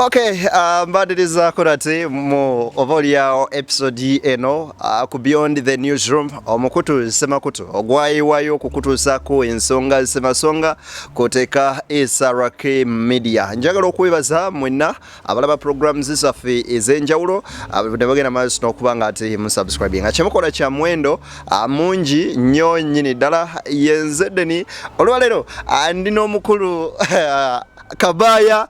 Okay, uh, mbadiriza kurati mu oba olyawo episode eno uh, ku beyond the newsroom omukutu semakutu ogwayiwayo okukutuusako ensonga semasonga koteka esrk media njagala okwebaza mwenna abalaba programs zaffe ez'enjawulo uh, nebagenda maaso n'okuba nga ati musubscribing nga kyemukola kya mwendo uh, mungi nnyo nnyini ddala yenzeddeni olwaleero uh, ndi n'omukulu uh, Kabaya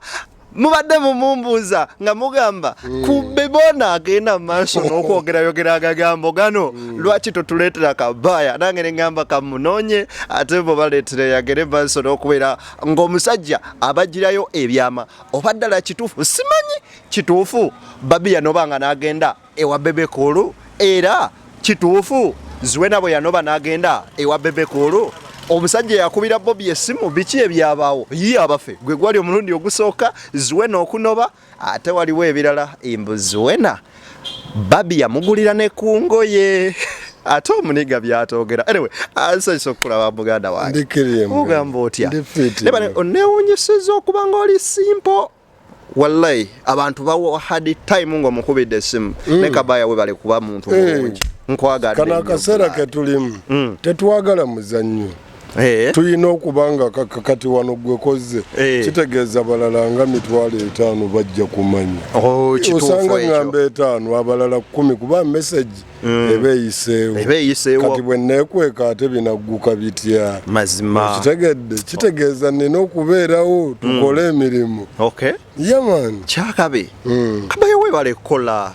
mubadde mumumbuuza nga mugamba mm. ku bebona agenda maaso n'okwogerayogera agagambo gano mm. lwaki totuleetera kabaya nange neŋamba kamunoonye ate bo baleetera yagere maaso n'okubeera ng'omusajja abagirayo ebyama oba ddala kituufu simanyi kituufu babiya noba nga n'agenda ewa bebe kulu era kituufu ziwena bwe yanoba n'agenda ewa bebe kulu omusajja yakubira bobi esimu biki ebyabaawo ye abafe gwe gwali omulundi ogusooka ziwena okunoba ate waliwo ebirala embu ziwena babi yamugulira ne ku ngoye ate omuniga byatogera anyway asanyusa okukulaba muganda wange ogamba otya nebane onewunyisiza okuba nga oli simpo wallahi abantu bawo hard time ngo mukubide esimu mm. ne kabaya we bale kuba muntu hey. Eh. mulungi nkwagadde kana akasera ketulimu mm. tetwagala muzannyo Hey. Eh. tulina okuba nga kati wano gwe kozze hey. Eh. kitegeeza balala nga mitwalo etaano bajja kumanya oh, osanga ngamba etaano abalala kumi kuba meseji mm. eba eyiseewo kati bwe neekweka ate binagguka bitya mazima kitegedde kitegeeza nina okubeerawo mm. tukole emirimu yaman kyakabi mm. kabayo webale kukola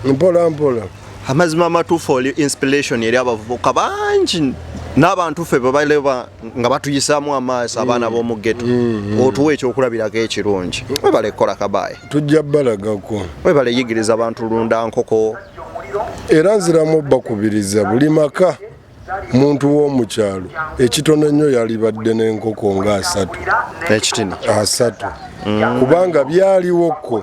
mpola mpola amazima amatuufu oli inspiration eri abavubuka bangi n'abantu ffe bebaleba nga batuyisaamu amaaso mm. abaana b'omu geto mm, mm. otuwa ekyokulabirako ekirungi webale kukola kabaye tujja balagako webale yigiriza abantu lunda nkoko era nziramu obbakubiriza buli maka muntu w'omukyalo ekitono ennyo yalibadde n'enkoko nga asatu ekitini asatu mm. kubanga byaliwokko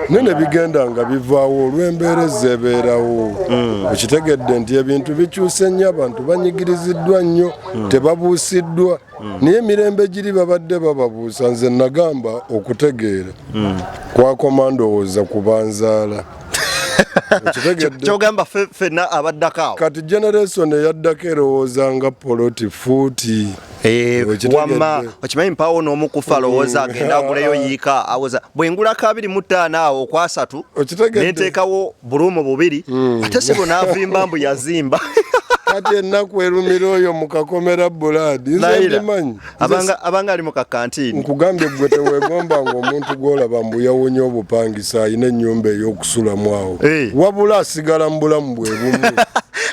naye ne bigenda nga bivaawo olw'embeera ezebeerawo mm. okitegedde nti ebintu bikyuse nnyo abantu banyigiriziddwa nnyo mm. tebabuusiddwa naye emirembe giri babadde bababuusa nze nagamba okutegeera kwakoma ndowooza kubanzaala kyogamba fena abaddako awo kati generation eyaddako erowooza nga poloti fuuti eh, wama okimanyi mpawo n'omu kufa mm. lowooza agenda aguleyo yiika awoza bwengula kabiri mu ttaano awo okwasatu nenteekawo buluumu bubiri mm. ate sibo n'avimba mbu yazimba kati ennaku erumira oyo mu kakomera bulaadi nze ndimanyi abanga abanga ali mu kakantini nkugambye gwe tewegomba nga omuntu gwolaba mbu yawonye obupangisa alina ennyumba ey'okusulamu awo hey. Eh. wabula asigala mu bulamu bwe bumu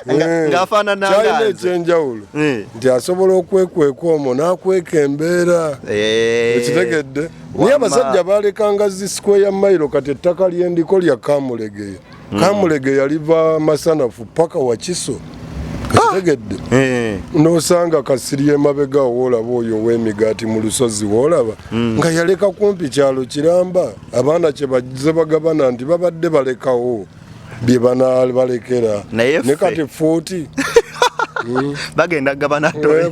eh. ngaafaananakyalina ekyenjawulo hey. Eh. nti asobola okwekweka omwo n'akweka embeera hey. ekitegedde naye abasajja balekanga zi sikweya mailo kati ettaka lyendiko lya kamulegeya mm. kamulege yaliva masanafu paka wakiso kitegedde ah! eh. nosanga kasiri emabega woolaba oyo ow'emigaati mu lusozi woolaba mm. nga yaleka kumpi kyalo kiramba abaana kye baze bagabana nti babadde balekawo bye banabalekera ne kati fuuti mm. bagenda gabana eh,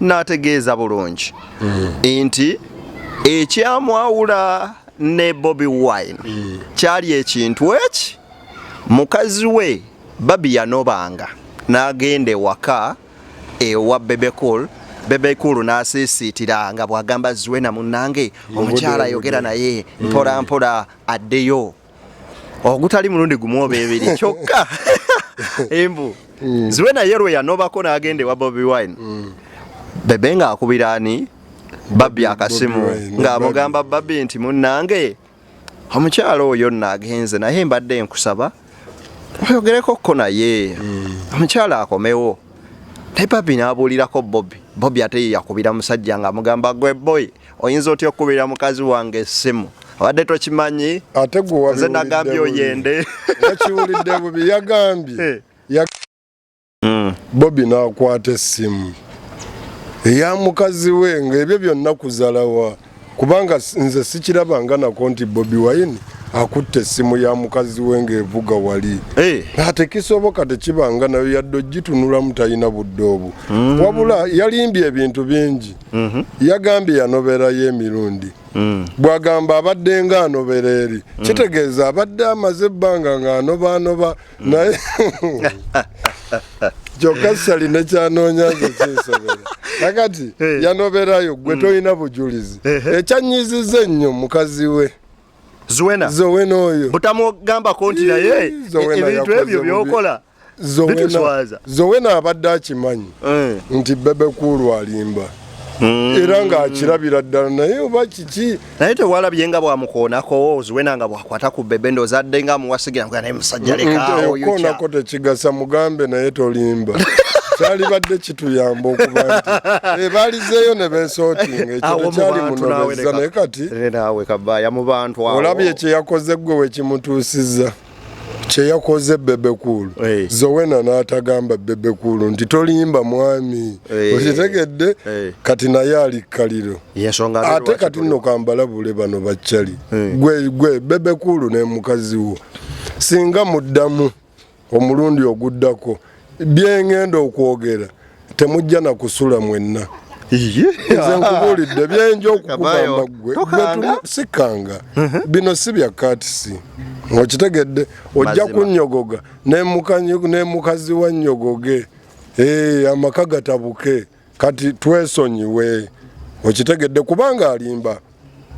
n'ategeeza bulungi hmm. nti ekyamwawula ne Bobi Wine hmm. kyali ekintu eki mukazi we babi yanobanga n'agenda ewaka ewa Bebekul bebekulu n'asiisiitira nga bw'agamba ziwe na munnange omukyala ayogera naye mpola mpola addeyo ogutali mulundi gumu oba ebiri kyokka embu mm. ziwe naye lwe yanobako n'agenda ewa bobi wine mm. bebe ng'akubira ani babbi akasimu ng'amugamba babbi nti munnange omukyalo oyo nno agenze naye mbadde nkusaba oyogereko ko naye mm. omukyalo akomewo naye papi n'abuulirako bobi bobi ate ye yakubira musajja ng'amugamba gwe boy oyinza otya okukubira mukazi wange essimu abadde tokimanyi ate gwenze nagambye oyende yakiwulidde bubi yagambye eh. hmm. bobi n'akwata essimu eya mukazi we ng'ebyo byonna kuzalawa kubanga nze sikiraba nga nako nti bobi wine akutte essimu ya mukazi we ng'evuga wali eh. ate kisoboka tekibanga nayo yadde ogitunulamu talina budde obwo mm. wabula yalimbye ebintu bingi mm-hmm. yagambye yanoberayo emirundi mm. bwagamba abadde nga anobera eri mm. kitegeeza abadde amaze ebbanga ng'anobaanoba naye kyokka sali nekyanoonya nze kinsobera nakati eh. yanoberayo gwe mm. tolina bujulizi eh, eh. ekyanyiziza ennyo mukazi we zuwena zuwena oyo butamugambako nti naye ebintu ebyo byokola zowena abadde akimanyi eh. nti bebe kuulu alimba hmm. era ng'akirabira ddala naye oba kiki naye tewalabye nga bwamukoonako oziwena nga bwakwata ku bebe ndoza adde nga amuwasigira nga naye musajja lekaokoonako tekigasa mugambe naye tolimba kyalibadde kituyamba okuba nti ebalizeeyo eh, ne besootinga ekyo tekyali munobezza naye kati olabye kyeyakoze ggwe wekimutuusizza kyeyakoze bebekulu hey. Eh. zowena natagamba bebekulu nti tolimba mwami hey. Eh. okitegedde hey. Eh. kati naye ali kaliro ate kati nno kambalabule bano baccali hey. gwe, gwe bebekulu ne mukazi wo singa muddamu omulundi oguddako byengenda okwogera temujja na kusula mwenna nze nkubulidde byenja okukugamba gwe sikanga uh-huh. bino si bya katisi okitegedde ojja kunyogoga nemukazi wa nyogoge eh, amaka gatabuke kati twesonyiwe okitegedde kubanga alimba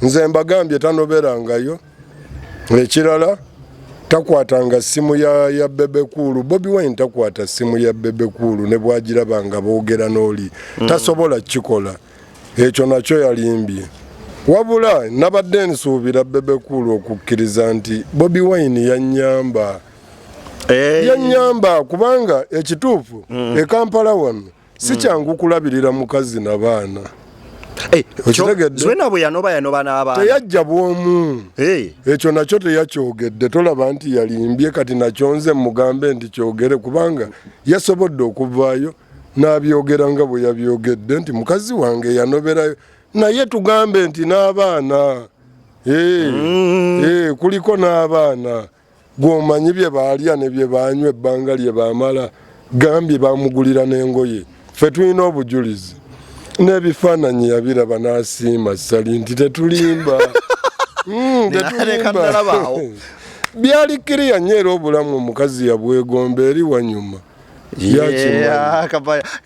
nze mbagambye tanoberangayo ekirala takwatanga simu ya, ya bebe kuulu bobi wine takwata simu ya bebe kuulu ne bwagiraba nga boogera n'oli mm. tasobola kikola ekyo nakyo yalimbye wabula nabadde nsuubira bebe kuulu okukkiriza nti bobi wine yanyamba hey. Eh. yanyamba kubanga ekituufu mm. ekampala wano si hmm. kyangu kulabirira mukazi na baana eh, zena bwe yanoba yanoba n'abaana teyajja bwomu eh. ekyo nakyo teyakyogedde tolaba nti yalimbye kati nakyo nze mugambe nti kyogere kubanga yasobodde okuvaayo n'abyogera nga bwe yabyogedde nti mukazi wange yanoberayo naye tugambe nti n'abaana eh, mm. kuliko n'abaana gwomanyi bye baalya ne bye baanywa ebbanga lye baamala gambye baamugulira n'engoye ffe tulina obujulizi n'ebifaananyi yabiraba n'asiima sali nti tetulimba hmm, byali kiriya nnyo era obulamu omukazi yabwegomba eri wanyuma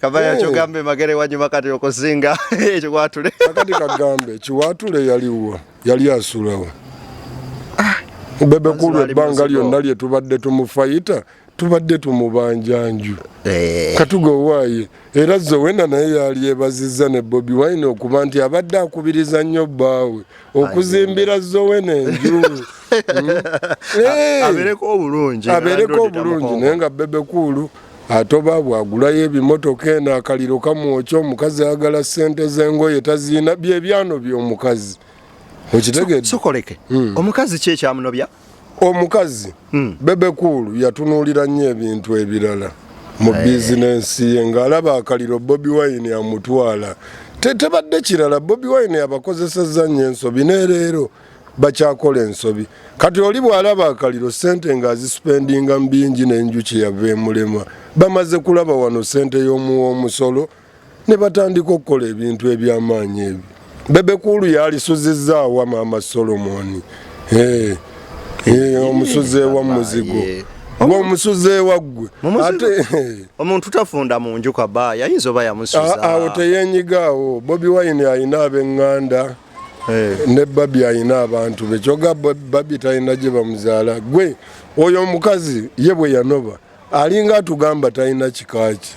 kabaya oh. kyogambe magere wanyuma kati okusinga ekiwatule akati kagambe kiwatule yaliwa yali asulawo ah, bebe kulu ebbanga lyonna lye tubadde tumufayita tubadde tumubanja nju eh. katuga owaaye era zowena naye yali ebazizza ne bobi wine okuba nti abadde akubiriza nnyo bbaawe okuzimbira zowena enju abereko obulungi abereko obulungi naye nga bebe kuulu atoba bwagulayo ebimotoka eno akaliro kamwokya omukazi ayagala sente zengoye taziina byebyano byomukazi okitegedesokoleke hmm. omukazi ki ekyamunobya omukazi hmm. bebekuulu yatunuulira nnyo ebintu ebirala mu eh. bizinensi ye ng'alaba akaliro bobi wine amutwala tetebadde kirala bobi wine yabakozesezza nnyo ensobi nereero bakyakola ensobi kati oli bwalaba akaliro sente nga azisupendinga mubingi nenjuki yava emulema bamaze kulaba wano sente yomuwa omusolo ne batandika okukola ebintu ebyamaanyi ebyo bebekuulu yalisuzizzaawa maama solomoni eh, eh, omusuzi ewa muzigo omusuzi ewaggwe omuntu tafunda mu nju kaba yayinza oba yamusuza awo teyenyigaawo bobi wine alina abenganda Eh, ne babi alina abantu be kyoga babi talina gye bamuzaala gwe oyo omukazi ye bwe yanoba alinga atugamba talina kikaaki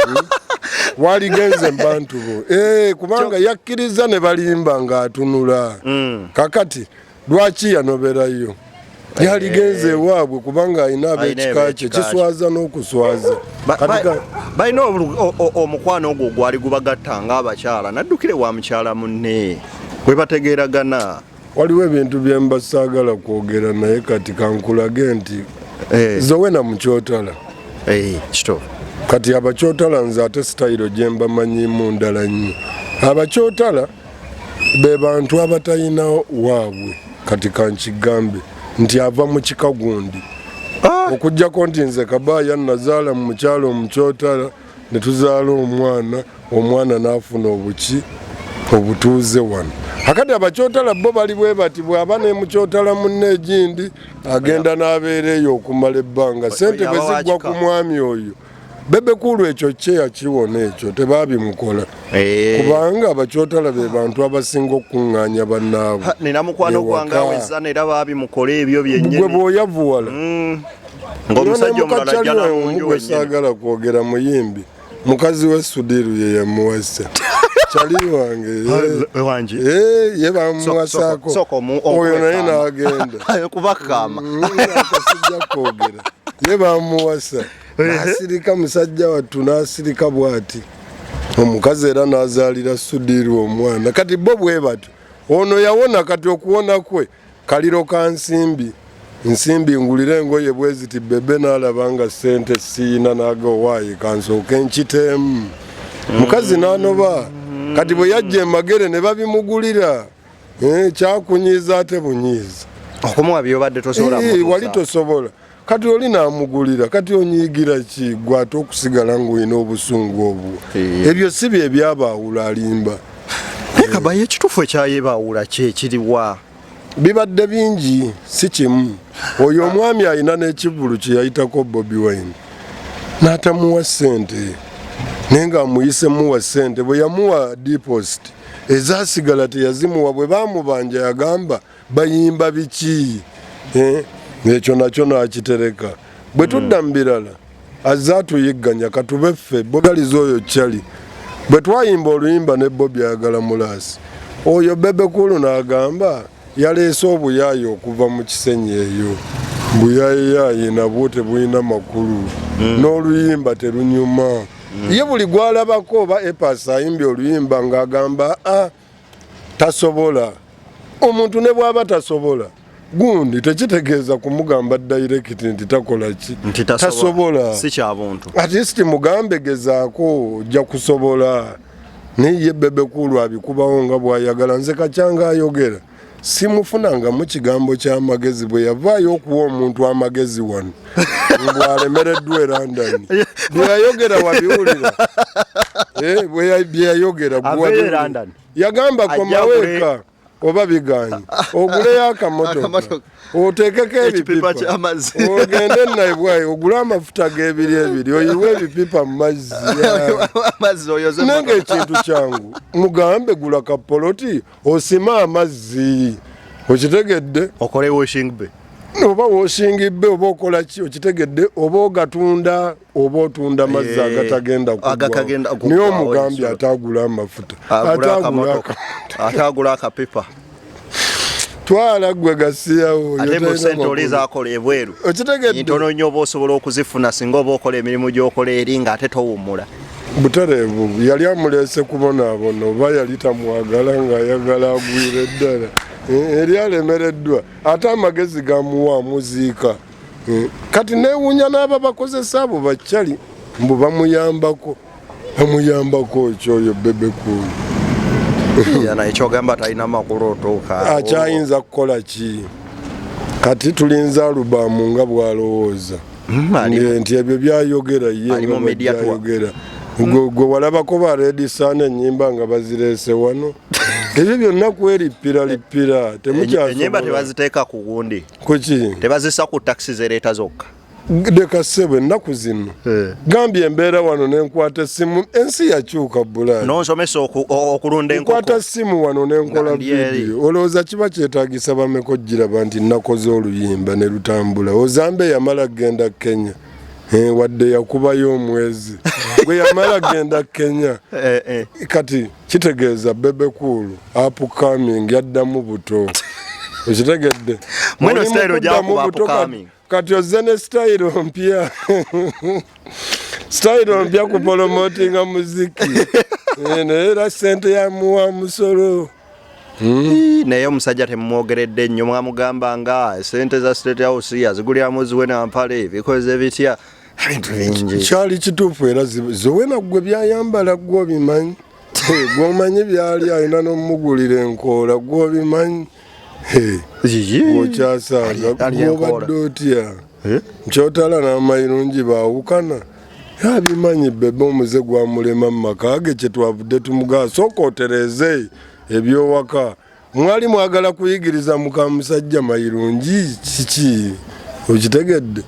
hmm? waligenze mubantu bo eh, kubanga yakkiriza ne balimba ng'atunula hmm. kakati lwaki yanoberayo yaligenze eh. ewaabwe kubanga alina abekika kye kiswaza n'okuswaza balina omukwano ogwo gwali gubagatta nga abakyala naddukire wa mukyala munne bwe bategeeragana waliwo ebintu bye mba saagala kwogera naye kati kankulage nti eh. zowe na mukyotala eh, kito kati abakyotala nze ate sitayiro gye mbamanyimu ndala nnyo abakyotala be bantu abatalina waabwe kati kankigambe nti ava mu kika gundi ah! okujjako nti nze kabaaya nazaala mu mukyalo omukyotala ne tuzaala omwana omwana n'afuna obuki obutuuze wano akati abakyotala bo bali bwe bati bw'aba ne mukyotala munne egindi agenda n'abeera eyo okumala ebbanga sente bwe ziggwa ku mwami oyo bebe kulu ekyo kyeya kiwona ekyo tebabimukola eh. kubanga abakyotala be bantu abasinga okukuŋŋaanya bannaabwe nina mukwano gwange aweza era babimukola ebyo byennyini gwe bwoyavuwala mm. ng'omusajja omulala jjana mu nju wennyini saagala kwogera muyimbi mukazi we sudiru ye yamuwasa chali wange eh. wanje eh, ye bamuwasako oyo naye n'agenda kubakama mm, akasijja kwogera ye bamuwasa nasirika musajja wattu nasirika bwati omukazi era nazaalira sudiirwa omwana kati bo bwe batyo ono yawona kati okuwona kwe kaliro ka nsimbi nsimbi ngulira engoye bweziti bebe nalaba nga sente siina naga owaayi kansooka enkiteemu mukazi nanoba kati bwe yajja emagere ne babimugulira eh, kyakunyiiza ate bunyiiza okumuwa byobadde tosobola wali tosobola kati oli namugulira kati onyiigira ki gwe ate okusigala ngaolina obusungu obwo eh. ebyo si bye byabaawula alimba naye kabaye ekituufu ekyayebaawula kyekiriwa bibadde bingi si kimu oyo omwami alina n'ekivulu kye yayitako bobi wine n'atamuwa ssente naye ng'amuyisemuwa ssente bwe yamuwa deposit ezasigala teyazimuwa bwe bamubanja yagamba bayimba biki eh, ekyo nakyo nakitereka bwe tudda mu birala azze atuyigganya katube ffe bogaliza oyo cali bwe twayimba oluyimba ne bobi agala mulaasi oyo bebekulu n'agamba yaleese obuyaayi okuva mu kisenyi eyo buyayiyaayi nabwo tebulina makulu hmm. n'oluyimba terunyuma hmm. ye buli gwalabako oba epasi ayimbye oluyimba ng'agamba a ah, tasobola omuntu ne bwaba tasobola gundi tekitegeeza kumugamba direct nti takola ki tasobola sikyabuntu atist mugambe gezaako ojja kusobola naye ye bebekulu abikubawo nga bwayagala nze kakyanga ayogera simufunangamu kigambo kyamagezi bwe yavaayo okuwa omuntu amagezi wano ngwalemereddwa e london byeyayogera wabiwulira eh, byeyayogera yagamba komaweeka oba biganye oguleyo akamotoka otekeko ebipipa ogende naibwayo ogule amafuta gebiri ebiri oyiwe ebipipa mumazzi nange ekintu kyangu mugambe gula kapoloti osime amazzi okitegedde okole washing bay oba washing bay oba okola ki okitegedde oba ogatunda oba otunda mazzi eh, agatagenda kugwanaye omugambi atagula amafuta atagula akapepa twala gwe gasiyawo ate mu sente oli zakola ebweru okitegedde ntono nnyo oba osobola okuzifuna singa oba okola emirimu gyokola eri nga ate towummula butereevu yali amuleese kubonaabona oba yali tamwagala ng'ayagala agwire ddala eh, eri alemereddwa ate amagezi gamuwa amuziika eh, kati neewuunya n'aba bakozesa abo bakyali mbu bamuyambako bamuyambako ekyoyo bebekuulu akyayinza kukola ki kati tulinza alubaamu nga bw'alowooza mm, nti ebyo byayogera yebyayogera gwe walabako ba redisana enyimba nga bazirese wano ebyo byonna kwerippira lippira temukyaenyimba tebaziteeka ku gundi kuki tebazisa ku takisi zereeta zokka leka ssebo ennaku zino eh. gambye embeera wano nenkwata essimu ensi yakyuka bulaansomesa okulunda enkwata ssimu wano nenkola vidiyo olowooza kiba kyetagi Nsabameka ogiraba nti nakoze oluyimba ne lutambula. Ozambe yamala kugenda Kenya eh, wadde yakubayo omwezi gwe yamala kugenda Kenya eh, eh. kati kitegeeza Bebe Cool upcoming yaddamu buto okitegedde mweno style ojakuba upcoming kati ozze ne sitayiro mpya sitayiro mpya kupolomotinga muziki eh, naye era sente yamuwa musolo hmm? naye omusajja temumwogeredde nnyo mwamugamba nga sente za state house yaziguliramu ziwe nampale bikoze bitya ebintu bingi kyali kituufu era ziwena gwe byayambala gwe obimanyi gwomanyi byali alina nomugulira enkoola gwe obimanyi okyasanga gwobadde otya nkyotala n'amayirungi baawukana yabimanyi bebe omuze gwamulema mu maka ge kyetwavudde tumugaa sooka otereeze ebyowaka mwali mwagala kuyigiriza muka musajja mayirungi kiki okitegedde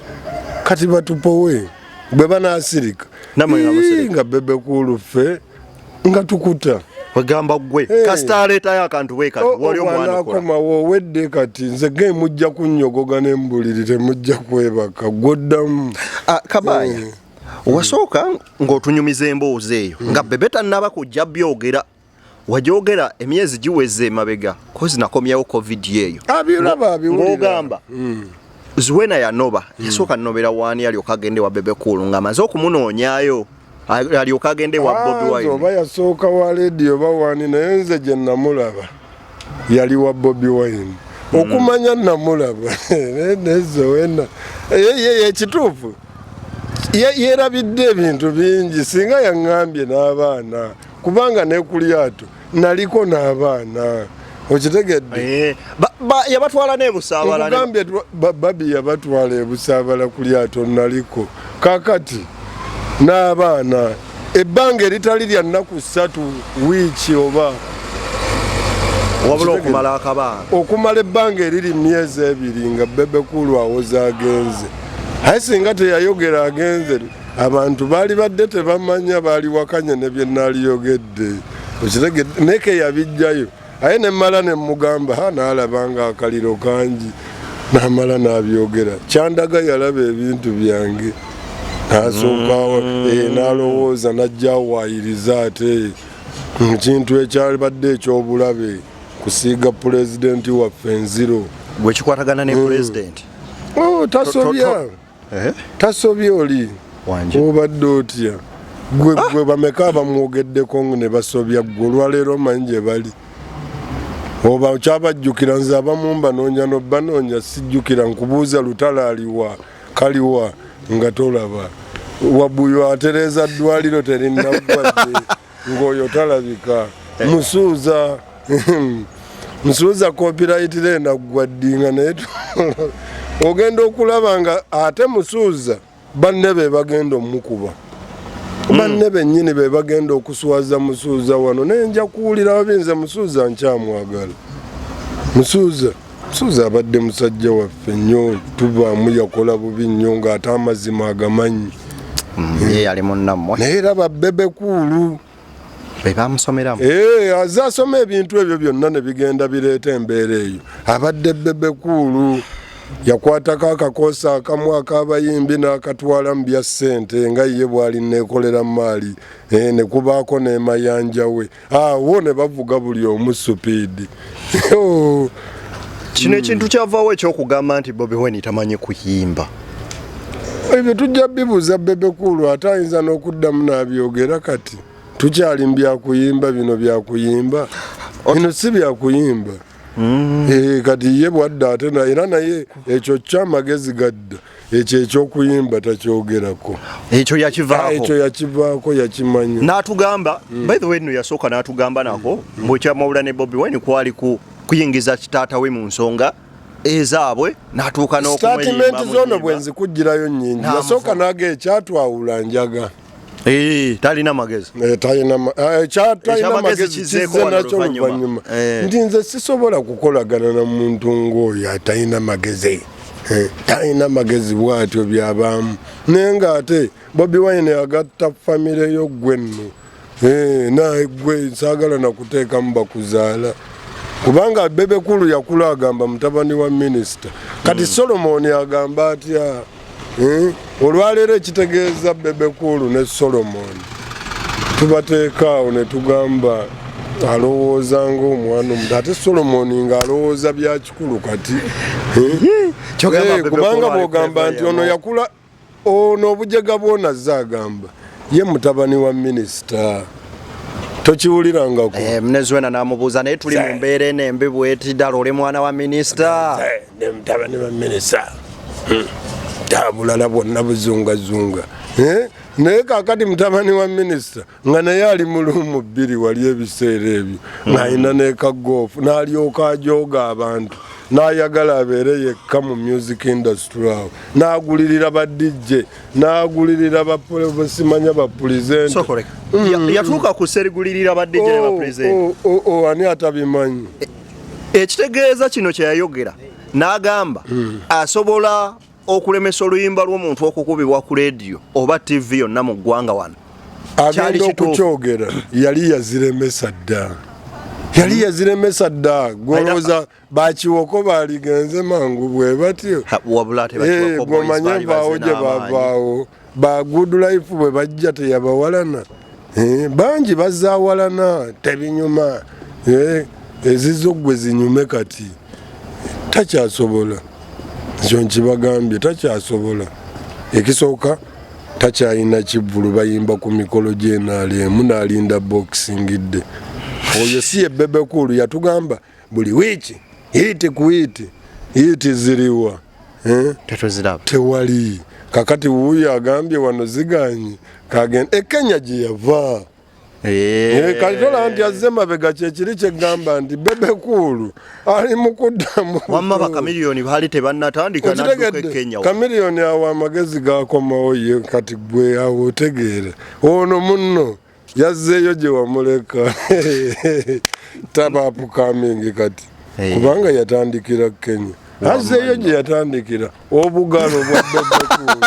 kati batupowe bwe banaasirika nga bebe kuuluffe nga tukuta wegamba gwe hey. kasita aleetayo akantu bwekati oh, oh, wali omwanakomawo owedde kati nze ge mujja kunnyogoga ne mbuliri temujja kwebaka gwoddamu ah, kabaya hey. Eh. wasooka ng'otunyumiza emboozi eyo hmm. nga bebe tannaba kujja byogera wajogera emyezi giweze emabega kozi nakomyawo covid eyo ng'ogamba hmm. Zuena yanoba mm. yasooka nobera wani alyoka agende wa bebe cool nga amaze okumunoonyayo alyoka agende wa Bobi ah, Wine oba yasooka wa radio oba wani naye nze gye namulaba yali wa Bobi Wine mm. okumanya namulaba naye Zuena yeye kituufu yerabidde ebintu bingi singa yaŋŋambye n'abaana kubanga nekulyato naliko n'abaana okitegedde eh, yabatwala nebusabalagambye babi yabatwala ebusabala ku lyato naliko kakati n'abaana ebbanga eritali lya nnaku ssatu wiiki oba wabula okumala akabaana okumala ebbanga eriri myezi ebiri nga bebekulu awoza agenze aye singa teyayogera agenze abantu baali badde tebamanya baaliwakanya ne bye naaliyogedde okitegedde neeke yabijjayo aye ne mmala ne mmugamba ha naalaba nga akaliro kangi naamala naabyogera kyandaga yalaba ebintu byange naasookawo mm. eh, naalowooza najjawayiriza ate mu kintu ekyabadde ekyobulabe kusiiga pulezidenti waffe enziro gwekikwatagana ne mm. pulezidenti oh, tasobya eh? tasobye oli obadde otya gwe ah! gwe bameka abamwogeddeko ne basobya gwe olwaleero manyi gye bali oba okyabajjukira nze abamu mbanoonya nobanoonya sijjukira nkubuuza lutala aliwa kaliwa nga tolaba wabuyo atereeza ddwaliro terinaggwadde ngoyo talabika eh. musuuza musuuza copyright lenda gwaddinga naye ogenda okulaba nga ate musuuza banne be bagenda omukuba hmm. banne bennyini be bagenda okuswaza musuuza wano naye nja kuwulira babinze musuuza nkyamwagala musuuza Suze abadde musajja waffe nnyo tuvaamu yakola bubi nnyo ng'ate amazima agamanyi mm, ye yali munnammwe naye era babebe kuulu bebamusomeramu eh, aze asoma ebintu ebyo byonna ne bigenda bireeta embeera eyo abadde bebe kuulu yakwatako akakoosi akamu akabayimbi n'akatwala mu bya ssente nga ye bwali neekolera maali eh, ne kubaako n'emayanja we awo ah, ne bavuga buli omu supiidi oh. kino ekintu kyavaawo ekyokugamba nti bobi weni tamanyi kuyimba ebyo tujja bibuuza bebekulu ate ayinza n'okuddamu n'abyogera kati tukyali mu byakuyimba bino byakuyimba bino si byakuyimba mm. eh, kati ye bwadda ate era naye ekyo kyamagezi gadda ekyo ekyokuyimba takyogerako ekyo yakivaako ekyo yakivaako yakimanya n'atugamba mm. by the way no yasooka n'atugamba nako mm. mbu ekyamawula ne bobi wine kwali kuyingiza kitaata we mu nsonga ezaabwe natuuka n'okumweyimbamuyimba sitatimenti zoono bwe nzikugirayo nnyingi yasooka naga ekyatwawula njaga Eh, talina magezi eh, talina eh, cha talina magezi kize nacho luvanyuma eh. ndi nze sisobola kukolagana na muntu ngoyo atalina magezi eh, talina magezi bwatyo byabamu naye nga ate bobi wine yagatta famire yo gwenno eh, naye gwe nsagala nakuteekamu bakuzaala kubanga bebekulu yakula agamba mutabani wa minisita kati mm. solomoni agamba atya Hmm? olwaleero ekitegeeza bebekuulu ne solomon tubateekaawo ne tugamba alowooza ngaomwana omuto ate solomon ng'alowooza byakikulu kati hmm? eh, kubanga bwogamba nti ono yakula ono obujega bwona ze agamba ye mutabani wa minisita tokiwulirangako eh, mneziwena namubuuza naye tuli mu mbeera eno embi bwetidala oli mwana wa minisita ne mutabani wa minisita hmm. tabulala bwonna buzungazunga eh? naye kakati mutabani wa minisita nga naye ali mulumu bbiri wali ebiseera ebyo hmm. nalina nekagoofu nalyoka ajooga abantu nayagala abeere yekka mu music industry awo nagulirira ba dj nagulirira basimanya bapulizenteyatuuka hmm. ku serigulirira ba dj ne bapulizenti oh, oh, oh, ani atabimanyi eh, ekitegeeza kino kyeyayogera n'agamba hmm. asobola okulemesa oluyimba lw'omuntu okukubibwa ku leediyo oba tivi yonna mu ggwanga wano agenda okukyogera yali yaziremesa dda yali hmm. yaziremesa dda gwolowooza bakiwoko baligenze mangu bwe batyo wabula tebakiwoko eh, boys bali baze n'amaanyi ba good life bwe bajja teyabawalana eh, bangi bazawalana tebinyuma eh, ezizo gwe zinyume kati takyasobola ekyo nkibagambye takyasobola ekisooka takyalina kivulu bayimba ku mikolo gyenaalemu naalinda boxingidde oyo si ye bebekulu yatugamba buli wiiki hiiti ku hiiti hiiti ziriwa eh? tetuziraba tewali kakati wuuyo agambye wano ziganye kagenda ekenya eh, gye yava eh. kati tolaba nti azze mabega kyekiri kyegamba nti bebekuulu ali mukuddamuwamma bakamiliyoni baali tebannatandika nadukekenya kamiliyoni awo amagezi gakomawo ye kati gwe awo otegeera ono munno yazzeeyo gye wamuleka taba apukamingi kati eh. kubanga yatandikira kenya azzeeyo gye yatandikira obugalo bwa bebekulu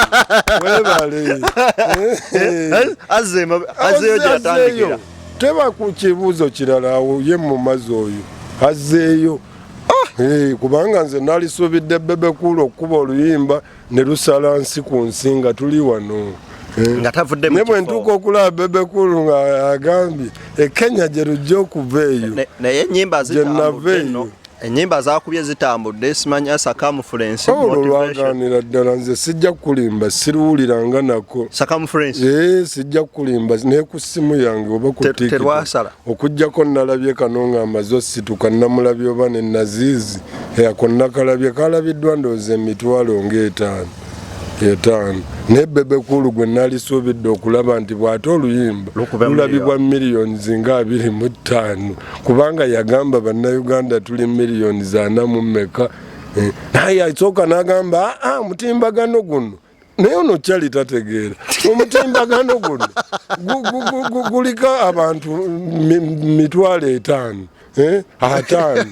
webaleazzeeyo teba ku kibuuzo kirala awo ye mu mazi oyo azzeeyo ah, eh, kubanga nze nalisuubidde bebekulu okukuba oluyimba ne lusala nsi ku nsi nga tuli wano eh. nga tavudde ne bwe ntuuka okulaba Bebe Cool nga agambye e Kenya gye lujja okuva eyo naye ennyimba zitambudde enno ennyimba zakubye zitambudde simanyi asakamufulensi olwo oh, lwaganira ddala nze sijja kukulimba siruwuliranga nako sakamufulensi ee eh, sijja kukulimba naye ku ssimu yange oba kuterwasala okujjako nalabye kano nga amaze osituka namulabye oba ne naziizi ako nakalabye kalabiddwa ndowooza emitwalo ng'etaano etaano naye bebekulu gwe nalisuubidde okulaba nti bw'ate oluyimba lulabibwa miliyoni zinga abiri mu ttaano kubanga yagamba bannayuganda tuli miliyoni zana mu mmeka eh, naye yasooka n'agamba aa ah, ah, mutimbagano guno naye ono kyali tategeera omutimbagano guno guliko abantu mitwalo etaano eh? ataano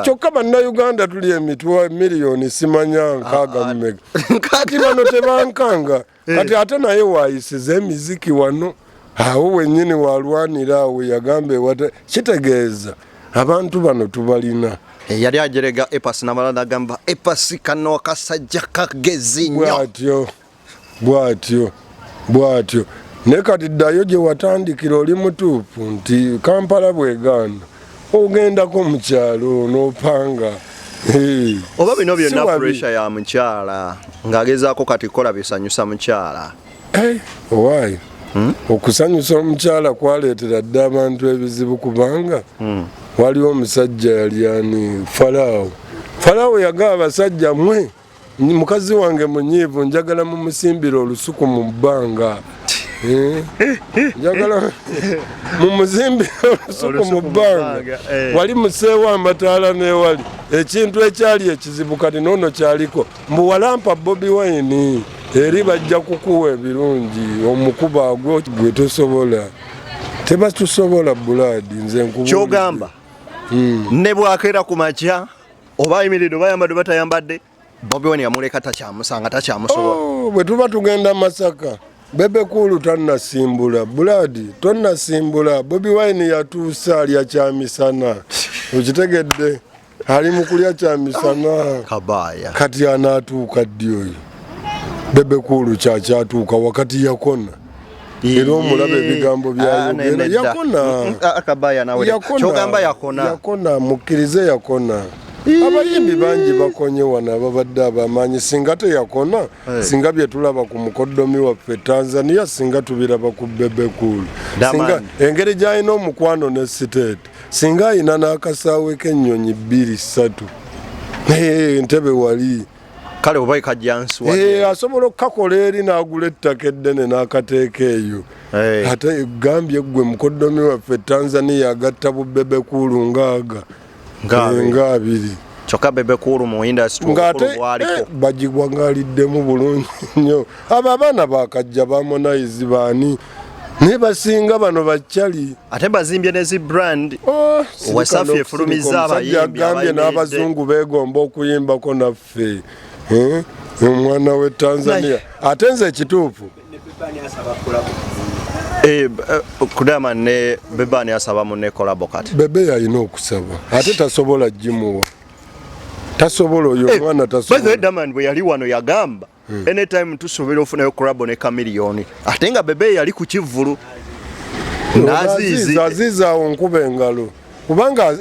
kyokka bannayuganda tuli emitwa miliyoni simanya nkaaga ah, ah. mumega kati bano tebankanga eh. kati ate naye waayisiza emiziki wano awo wenyini walwanira awo yagamba ewata kitegeeza abantu bano tubalina eh, yali ajerega epas namala nagamba epas kano akasajja kagezi nyo bwatyo bwatyo bwatyo ne kati ddayo gye watandikira oli mutuufu nti kampala bwegaana ogendako mu kyalo n'opanga oba bino byonna pressure ya mukyala ng'agezaako kati kukola bisanyusa mukyala Eh, owaayi hmm? okusanyusa omukyala kwaleetera dda abantu ebizibu kubanga hmm. waliwo omusajja yali ani falaawo falaawo yagaa abasajja mwe mukazi wange munyiivu njagala mumusimbira olusuku mu bbanga eh? njagala mumuzimbira olusuku mu bbanga eh. wali museewo amataala n'ewali ekintu ekyali ekizibu kati noono kyaliko mbu walampa bobi wine eri bajja kukuwa ebirungi omukuba gwo gwe tosobola tebatusobola buladi nze nkukyogamba hmm. ne bwakeera ku makya oba ayimiridde oba ayambadde oba tayambadde bobi wine yamuleka takyamusanga takyamusobola oh, bwe tuba tugenda masaka bebe kuulu tannasimbula buladi tonnasimbula bobi wine yatuusa alya kyamisana okitegedde ali mu kulya kya misana kabaya kati anaatuuka ddi oyo bebe kuulu kyakyatuuka wakati yakona era omulaba ebigambo ah, byayogera yakona ah, yakona yakona mukkirize yakona abayimbi bangi bakonye wano ababadde abamaanyi singa teyakona eh. singa byetulaba ku mukoddomi waffe tanzania singa tubiraba ku bebekul singa engeri gyalina omukwano ne siteeti singa ayina n'akasaawe k'ennyonyi bbiri ssatu entebe wali kale oba ekajjansiwa eh, asobola okukakola eri n'agula ettaka eddene n'akateeka eyo eh. ate gambye ggwe mukoddomi waffe tanzania agatta bubebe kuulu ngaaga nga eh, abiri kyokka bebe kuulu mu indasitngaaliko bagigwa ng'aliddemu bulungi nnyo abo abaana bakajja bamonayizi baani naye basinga bano bacali ate bazimbye nezi brand oh, wasafi efulumiza abayimbiagambye n'abazungu begomba okuyimbako naffe eh? omwana we tanzania ate nze ekituufu eh, eh, kudama ne bebani asaba mune kolabo kati bebe yalina okusaba ate tasobola gimuwa tasobola oyo omwana tasobola bwe yali wano yagamba hmm. anytime tusuubira ofunayo crabo ne kamiliyoni ate nga bebe yali ku kivvulu nazizi azizi awo nkuba engalo kubanga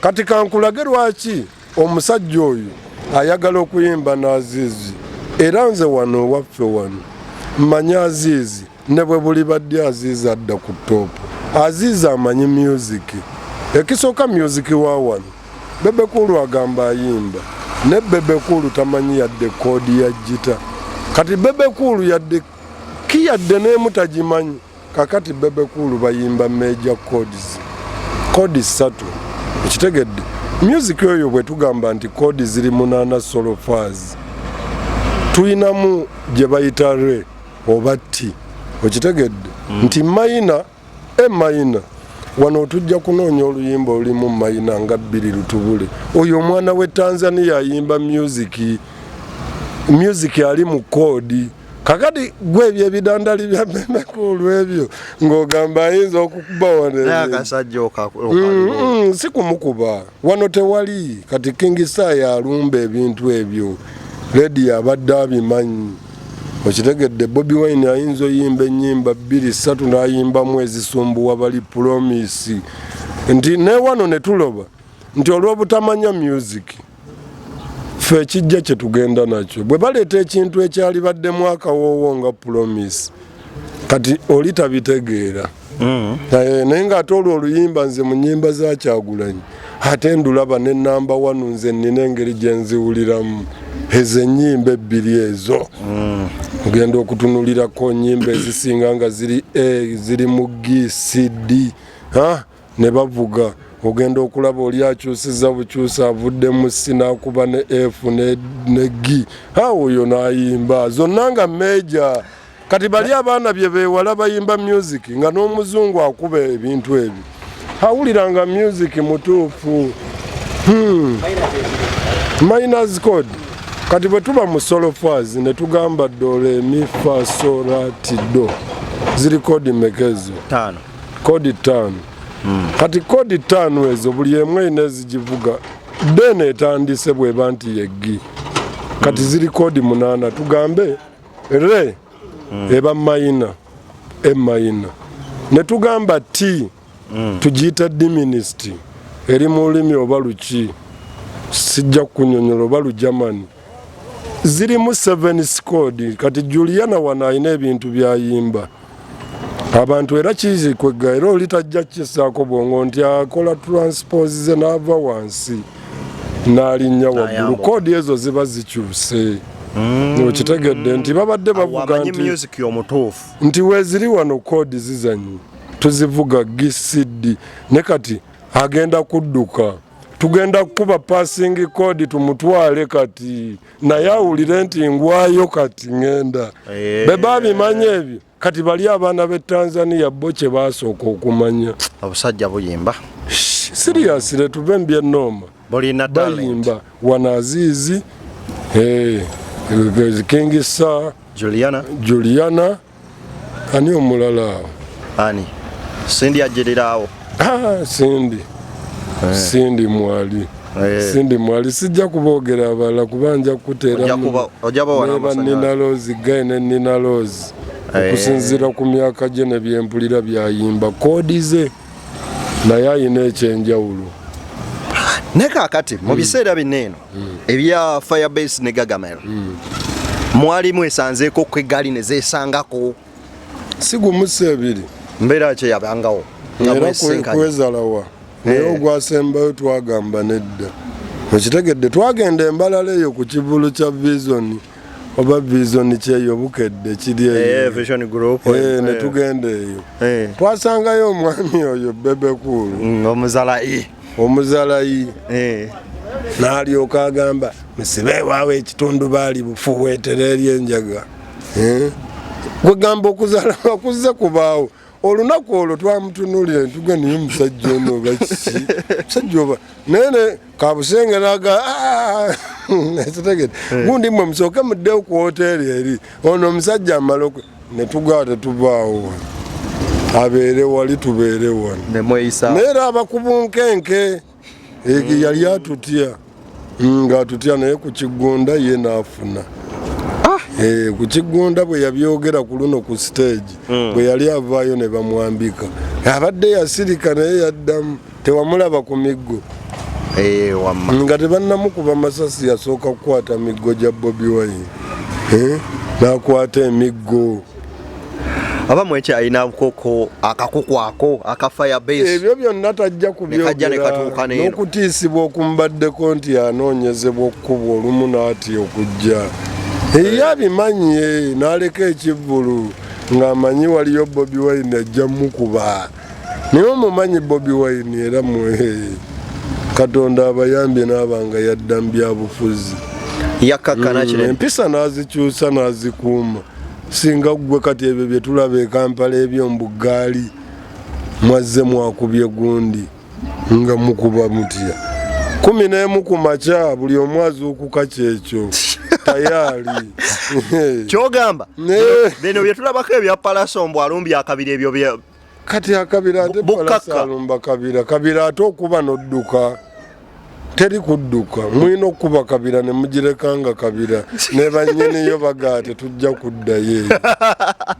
kati kankulage lwaki omusajja oyo ayagala okuyimba n'azizi era nze wano owaffe wano mmanyi azizi ne bwe bulibadde aziiza adda ku toopu aziiza amanyi myuziki ekisooka myuziki wa wano bebekulu agamba ayimba ne bebekulu tamanyi yadde koodi ya jita kati bebekulu yadde ki yadde neemu tagimanyi kakati bebekulu bayimba meja codes koodi ssatu ekitegedde myuziki oyo bwe tugamba nti koodi ziri munaana solofaazi tulinamu gye bayita ree oba ti okitegedde mm. nti mayina e mayina wano otujja kunoonya oluyimba olulimu mayina nga bbiri lutubule oyo omwana we tanzania ayimba musiki musiki ali mu koodi kakati gwe ebyo ebidandali bya memeku olwebyo ng'ogamba ayinza okukuba wanenakasajja mm, mm, si kumukuba Wano tewali kati King Star yalumba ebintu ebyo ledi abadde abimanyi okitegedde Bobi Wine ayinza oyimba ennyimba bbiri ssatu n'ayimbamu ezisumbuwa bali pulomisi nti newano ne tuloba nti olw'obutamanya music ffe ekijja kye tugenda nakyo bwe baleeta ekintu ekyali baddemu akawoowo nga pulomisi kati oli tabitegeera mm. eh, naye nga ate olwo oluyimba nze mu nyimba za kyagulanyi ate ndulaba ne namba wanu nze nina engeri gye nziwuliramu ezo ennyimba ebbiri ezo mm. ogenda okutunulirako nyimba ezisinga nga ziri a eh, ziri mu gcd ah. ne bavuga ogenda okulaba oli akyusiza bukyusi avudde mu si nakuba ne f ne gi awo oyo nayimba zonna nga meja kati bali abaana bye bewala bayimba music nga n'omuzungu akuba ebintu ebyo awulira nga music mutuufu hmm. miners code kati bwe tuba mu solofaz ne tugamba dolemifasoratido ziri kodi mekezo kodi ttaano hmm. kati kodi ttaano ezo buli emu erina ezigivuga deni etandise bweba nti yeggi kati hmm. ziri kodi munaana tugambe re hmm. eba mayina emayina ne tugamba ti tugiyita diminisiti eri mu lulimi oba luki sijja kukunyonyola oba lujamani zirimu seven squad kati juliana wano alina ebintu byayimba abantu era kizikwegga era oli tajja kisaako bwongo nti akola transpose ze naava wansi nalinnya waggulu koodi ezo ziba zikyuse mm. okitegedde nti babadde bavuga nti nti weziri wano koodi zizanyi tuzivuga gcd ne kati agenda kudduka tugenda kukuba passing code tumutwale kati naye awulire nti ngwayo kati ngenda eh. be babimanya ebyo kati bali abaana b'e tanzania bo kye basooka okumanya obusajja buyimba siriyasire tuve mu byenooma bayimba wanaziizi eh, kingi sa juliana, juliana. Ani omulala awo? Ani? Cindy ajirira awo. Ah, Cindy. Eh. Cindy mwali. Eh. Cindy mwali sijja kuboogera abala kuba nja kukuteera neba Nina Rose guy ne Nina Rose eh. okusinziira ku myaka gye ne byempulira byayimba koodi ze naye ayina ekyenjawulo ne kakati mu biseera bino eno ebya firebase ne gagamel mwalimu esanzeeko ku eggaali ne zeesangako si gumusa ebiri mbeera kye yabangawo kwezalawa naye eh. ogwasembayo twagamba nedda okitegedde twagenda embalala eyo ku kivulu kya visoni oba vision kyeyo bukedde kiri eyo eh, vision group eh, eh. netugenda eyo twasangayo omwami oyo bebekulu mm, omuzalayi omuzalayi nalyoka agamba musibe ewawe ekitundu baali bufuweetere eri enjaga kwegamba okuzala wakuzze kubaawo olunaku olwo twamutunulira ntuga naye musajja ono oba kiki musajja oba naye ne kabusenge naga ah! ekitegede eh. gundi mwe musooke muddewo ku woteeri eri ono omusajja amala okwe ne tugaa tetuvaawo wano abeere wali tubeere wano naye era abakubunkenke ege yali atutya mm, ng'atutya naye ku kiggunda ye n'afuna ah! eh, ku kiggunda bwe yabyogera ku luno ku siteegi hmm. bwe yali avaayo ne bamwambika abadde yasirika naye yaddamu tewamulaba ku miggo eh, nga tebannamukuba masasi yasooka kukwata miggo gya bobi wine eh, n'akwata emiggo aba mwekya alina bukoko akakuku ako aka fire base ebyo byonna tajja kubyogera n'okutiisibwa okumbaddeko nti anoonyezebwa okukubwa olumu n'atya okujja eyo abimanye n'aleka ekivvulu ng'amanyi waliyo bobi wine ajja mukuba naye omumanyi bobi wine era mwehe katonda abayambye n'abanga yadda mu byabufuzi yakkakkana kino mm, empisa n'azikyusa n'azikuuma singa ggwe kati ebyo bye tulaba e kampala ebyo mbu ggaali mwazze mwakubye gundi nga mukuba mutya kumi n'emu ku makya buli omu azuukuka kyekyo tayali kyogamba bino byetulabako ebya palaso mbu alumbye akabiri ebyo kati akabira ate palasalumba kabira kabira ate okuba nodduka teri kudduka mulina okukuba kabira ne mugireka nga kabira ne bannyiniyo bagaa tetujja kuddayo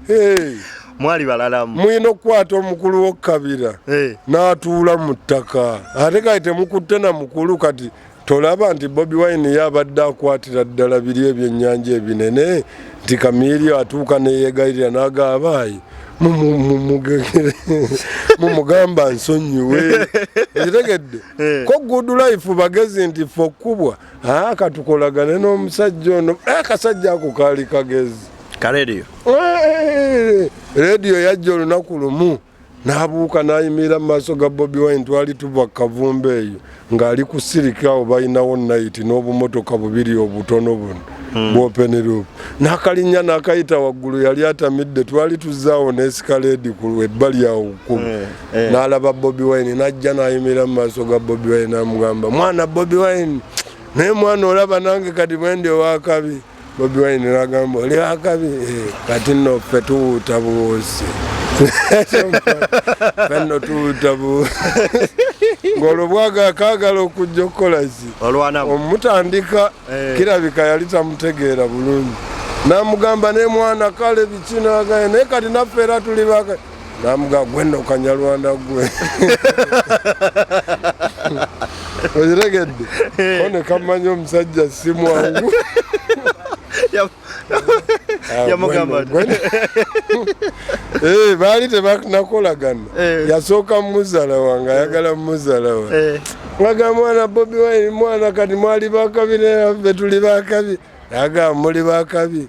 eyo mwali balalamu mulina okukwata omukulu wokukabira n'atuula mu ttaka ate kati temukutte na mukulu kati Tolaba nti Bobi Wine ye abadde akwatira ddala biri ebyennyanja ebinene nti Kamirio atuuka neyegayirira n'aga abaayi mumugamba nsonyiwe ekitegedde eh. ko good life bagezi nti fe okukubwa ah, katukolagane n'omusajja ono eh, akasajja ako kaali kagezi ka rediyo eh, rediyo yajja olunaku lumu n'abuuka n'ayimirira mu maaso ga bobi wine twali tuva kavumba eyo ng'ali ku siriki awo balinawo nayiti n'obumotoka bubiri obutono buno hmm. bwopenerup n'akalinnya n'akayita waggulu yali atamidde twali tuzaawo n'esikaleedi ku ebbali awo kkumu eh, eh. n'alaba bobi wine n'ajja n'ayimirira mu maaso ga bobi wine n'amugamba mwana bobi wine naye mwana olaba nange kati bwendi owakabi Bobi Wine nagamba oli akabi eh, kati no ffe tuwuuta buwuusi fenno tuwuuta buwuusi ng'olwo bwaga akaagala okujja okukola ki omutandika eh. kirabika yali tamutegeera bulungi namugamba ne mwana kale bikinagaye naye kati naffe era tuli baka Namuga gwe no kanyarwanda gwe. Oyiregedde. Kone kamanyi omusajja si mwangu. Ah, yamugamba eh, baali tebanakolagana eh. yasooka muzala wange ayagala muzala wa eh. aga mwana bobi wine mwana kati mwali bakabi naffe tuli bakabi aga muli bakabi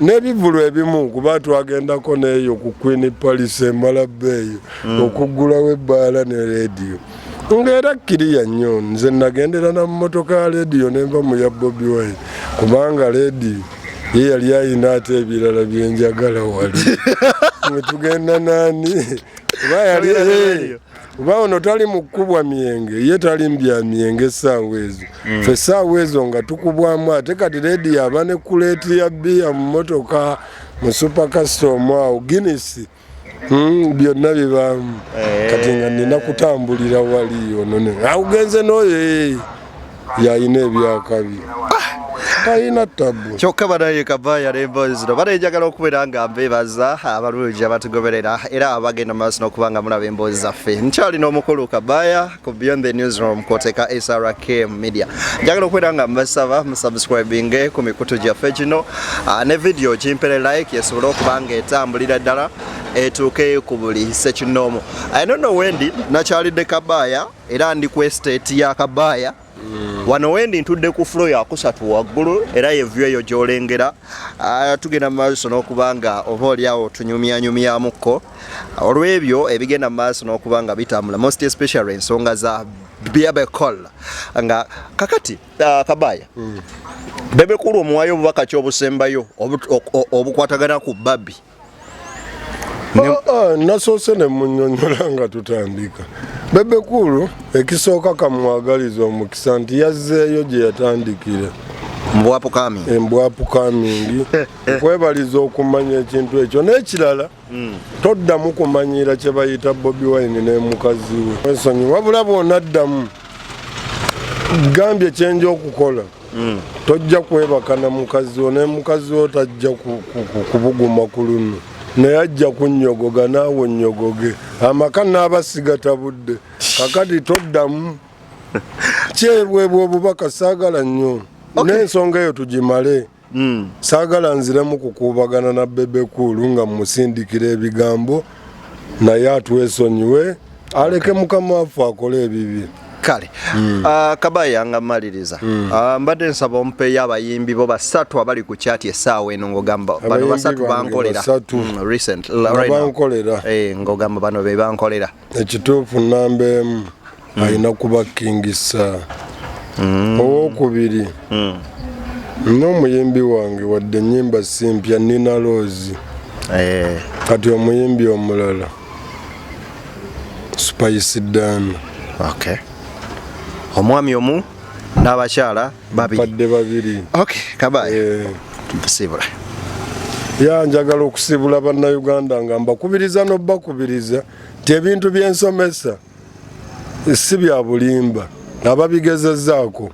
n'ebivulu ebimu kuba twagendako neeyo ku queen palice embalabba eyo mm. okuggulawo ebbaala ne rediyo ngaera kiriya nnyo nze nagendera na mumotoka ya rediyo nenva mu ya bobi wine kubanga rediyo ye yali ayina ate ebirala byenjagala wali mwetugenda nani kuba ono tali mukubwa myenge ye tali mbya myenge esaawa ezo mm. fe esaawa ezo nga tukubwamu ate kati redi yaba ne kuleeti ya bbiya mu motoka mu super custom awo guinness mm, byonna bibaamu eh. kati nga nina kutambulira wali ono augenze noyo ee eh. yalina ebyakabi talina ah! tabu kyokka banaye kava yalemba zino bana enjagala okubeera nga mbebaza abalungi abatugoberera era abagenda mu maaso n'okuba nga mulaba emboozi zaffe nkyali n'omukulu kabaya ku beyond the newsroom koteka srkm media njagala okubeera nga mbasaba musubscribinge ku mikutu gyaffe gino ah, ne vidiyo kimpere like esobole okuba nga etambulira ddala etuuke ku buli sekinoomu i don't know wendi nakyalidde kabaya era ndi ku estate ya Kabaya mm. wano wendi ntudde ku flo yakusatu waggulu era yevyu eyo gyolengera ah, tugenda mu maaso n'okuba nga oba olyawo tunyumyanyumyamukko olw'ebyo ebigenda mu maaso n'okuba nga bitambula most especially ensonga za bebecol nga kakati uh, kabaya mm. bebekulu omuwayo obubaka kyobusembayo obukwatagana ku babi Oh, oh, nasoose ne munyonyola nga tutandika bebekulu ekisooka kamwagaliza omukisa nti yazzeeyo gye yatandikira embwapukamingi eh, eh. kwebaliza okumanya ekintu ekyo n'ekirala hmm. toddamu kumanyiira kye bayita bobi wine n'emukazi we wesonyi wabula bwonaddamu gambye kyenja okukola mm. tojja kwebaka na mukazi wo naye mukazi wo tajja kubuguma ku luno naye ajja kunnyogoga naawe onnyogoge amaka naaba sigatabudde kakati toddamu kyebwebwa obubaka saagala nnyo n'ensonga eyo tugimale hmm. saagala nziremu kukuubagana na bebekuulu nga mumusindikira ebigambo naye atwesonyiwe aleke mukama waffe akole ebibye kale mm. uh, ah, kabaya nga maliriza mm. uh, ah, mbadde nsaba omupeeyo abayimbi bo basatu abali ku kyati esaawa eno ngogamba bano basatu bankolera mm, recent right now eh, ngogamba bano be bankolera ekituufu namba emu mm. alina kuba king sir mm. owokubiri mm. n'omuyimbi wange wadde enyimba simpya nina loozi eh. kati omuyimbi omulala spice dan okay. omwami omu n'abakyala babiripadde babiri okay. kabaye eh. sibula ya njagala okusibula bannayuganda nga mbakubiriza n'obakubiriza nti ebintu by'ensomesa si bya bulimba ababigezezaako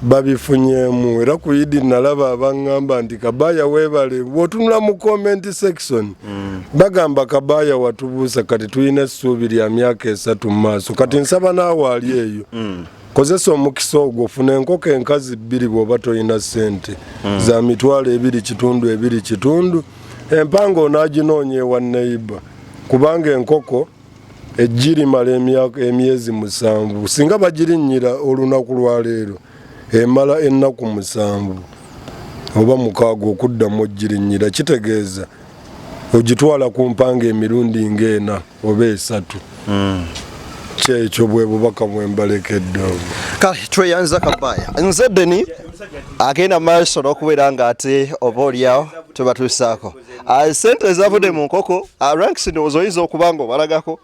babifunyemu era ku idi nalaba abangamba nti kabaya webale wotunula mu comment section mm. bagamba kabaya watubuusa kati tulina essuubi lya myaka esatu mu maaso kati okay. nsaba naawe ali eyo mm. kozesa omukisa ogwo funa enkoko enkazi bbiri bwoba tolina sente mm. za mitwalo ebiri kitundu ebiri kitundu empanga onaginoonya ewa neiba kubanga enkoko eggi limala emyezi musanvu singa bagirinnyira olunaku lwa leero emala ennaku musanvu oba mukaaga okuddamu ogirinnyira kitegeeza ogitwala ku mpanga emirundi ng'ena oba esatu hmm. kyekyo bwe bubaka bwe mbalekedde obwo kale tweyanza kabaaya nze deni agenda maaso n'okubeera ng'ate oba olyawo tubatuusaako ah, sente ezavude mu nkoko ah, ranks ndowooza oyinza okuba nga obalagako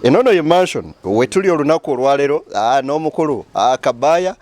enono ye mansion wetuli olunaku olwalero ah, n'omukulu kabaya